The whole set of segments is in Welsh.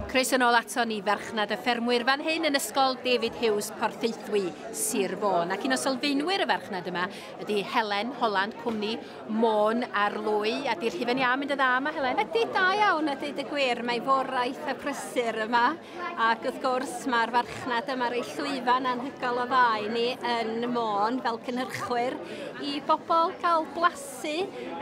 Croeso yn ôl ato ni farchnad y ffermwyr fan hyn yn ysgol David Hughes Porthaethwy, Sir Fôn. Ac un o sylfaenwyr y farchnad yma ydy Helen Holland, cwmni Môn ar Lwy. A di'r hufen iâ mynd y dda yma, Helen? Ydy da iawn, a dweud y gwir. Mae foraeth a prysur yma. Ac wrth gwrs, mae'r farchnad yma rei llwyfan anhygoel o dda i ni yn Môn fel cynhyrchwyr i bobl gael blas Su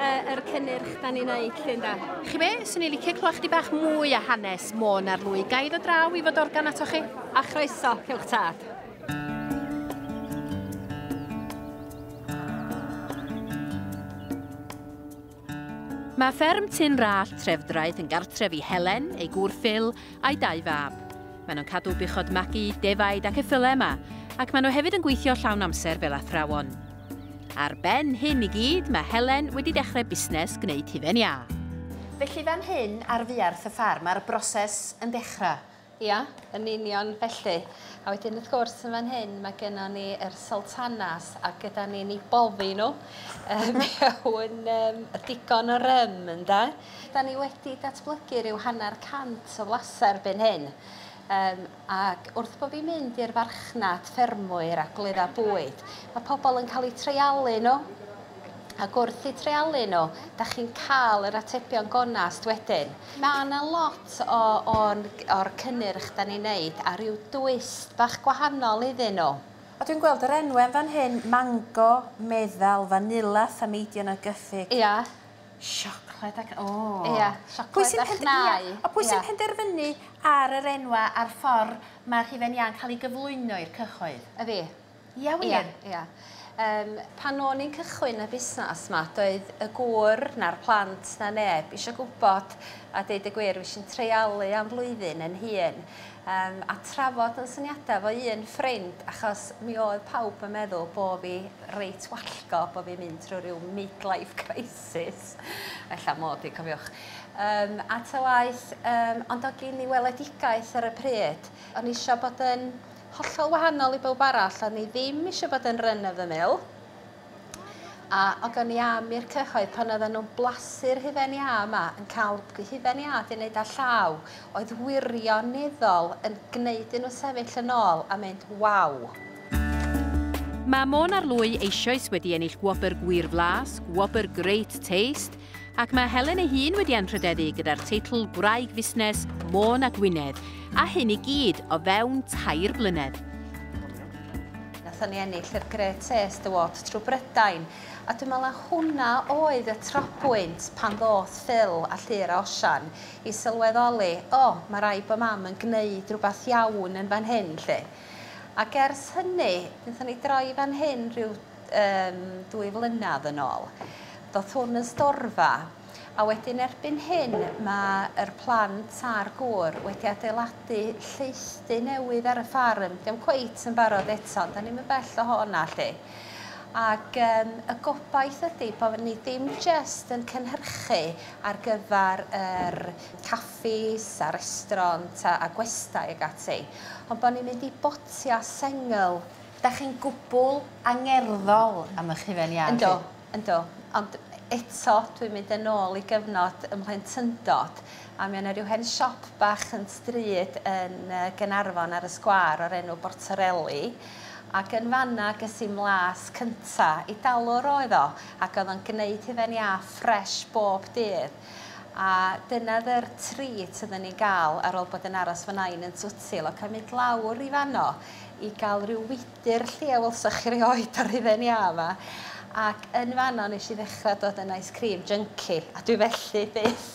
yr cynnyrch da ni'n neud llun da? Chi be, swn i licio clywed chdi bach mwy a hanes Môn ar Lwy, ga i ddod draw i fod organ ato chi? A chroeso, cewch tad. Mae fferm Tyn Rallt, Trefdraeth yn gartref i Helen, ei gŵr Phil, a'i dau fab. Maen nhw'n cadw buchod magu, defaid ac effylau yma, ac maen nhw hefyd yn gweithio llawn amser fel athrawon. Ar ben hyn i gyd mae Helen wedi dechrau busnes gwneud hufen iâ. Felly fan hyn ar fuarth y ffarm mae'r broses yn dechrau? Ia, yn union felly. A wedyn wrth gwrs yn fan hyn mae gennon ni yr Sultanas a gyda ni'n eu boddi nhw mewn yym digon o rym ynde? Dan ni wedi datblygu rhyw hanner cant o flasu erbyn hyn. Yym. Ac wrth bo' fi'n mynd i'r farchnad ffermwyr a gwledda bwyd, ma' pobl yn cael eu treialu nhw. Ac wrth eu treialu nhw, 'da chi'n cael yr atebion gonest wedyn. Ma' 'na lot o o'n o'r cynnyrch 'dan ni'n neud a ryw dwist bach gwahanol iddyn nhw. A dwi'n gweld yr enwe yn fan hyn, mango, meddal, fanila, thameidion a gyffig. Ia. Siocled ac o! Ia siocled a chnau. Ia a pwy sy'n penderfynu ar yr enwa a'r ffor ma' rhufen iâ'n ca'l 'i gyflwyno i'r cyhoedd? A fi. Ia wir? Ia ia. Yym pan o'n i'n cychwyn y busnas 'ma doedd y gŵr na'r plant na neb isio gwbod a deud y gwir fuesh i'n treialu am flwyddyn 'yn hun Yym a trafod yn syniadau efo un ffrind achos mi oedd pawb yn meddwl bo' fi reit wallgo bo' fi'n mynd trw ryw midlife crisis ella mod i cofiwch yym a ta waeth yym ond o' gin i weledigaeth ar y pryd o'n i isio bod yn hollol wahanol i bowb arall o'n i ddim isio bod yn run of the mill A o gen i am i'r cyhoedd, pan oedden nhw'n blasu'r hufen iâ yma, yn cael hufen iâ 'di wneud â llaw, oedd wirioneddol yn gwneud i nhw sefyll yn ôl a mynd 'waw'. Mae Môn ar Lwy eisioes wedi ennill gwobr Gwir Flas, gwobr Great Taste, Ac mae Helen ei hun wedi anrhydeddu gyda'r teitl Gwraig Fusnes Môn a Gwynedd, a hyn i gyd o fewn tair blynedd. Nathon ni ennill yr Great Taste Award trwy Brydain, a dwi'n meddwl na hwnna oedd y trobwynt pan ddoth Phil a Llŷr a Osian i sylweddoli, o, ma' raid bo' Mam yn gneud rhywbeth iawn yn fan hyn 'lly. Ac ers hynny, nathon ni droi fan hyn rhyw um, dwy flynadd yn ôl. Doth hwn yn storfa, a wedyn erbyn hyn mae'r plant a'r gŵr wedi adeiladu lleithdy newydd ar y ffarm. Diolch cweit yn barod eto, da ni'n mynd bell o hona lle. Ac um, y gobaith ydy bod ni dim jest yn cynhyrchu ar gyfer yr caffis a restraunt a, a gwestai ag ati, ond bod ni'n mynd i botia sengl Dach chi'n gwbl angerddol am ych hufen iâ chi. Yndw, yndw. Ond eto, dwi'n mynd yn ôl i gyfnod 'y mhlentyndod, a mi o' 'na ryw hen siop bach yn stryd yn yy Gaernarfon ar y sgwâr o'r enw Bortarelli, ac yn fan 'na ges i'm las cynta. Eidalwr oedd o, ac o'dd o'n gneud hufen iâ ffresh bob dydd. A dyna o'dd yr treat odden ni'n ga'l ar ôl bod yn aros fy Nain yn Twtsil, ac o'n mynd lawr i fan 'no i ga'l ryw wydr 'lly a welsoch chi rioed o'r hufen iâ 'ma ac yn fanno nesh i ddechra dod yn ice cream junkie a dwi felly byth!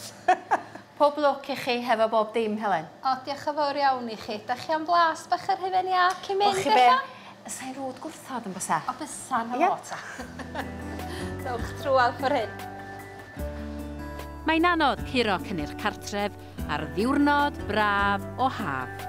Pob lwc i chi hefo bob dim Helen. O diolch yn fowr iawn i chi. Dach chi am blas bach yr hufen iâ cyn mynd ella? Wel chi be'? Sa i'n rwd gwrthod on' bysa? O bysa 'na fo ta. Dowch trwadd ffor hyn. Mae'n anodd curo cynnyrch cartref ar ddiwrnod braf o haf.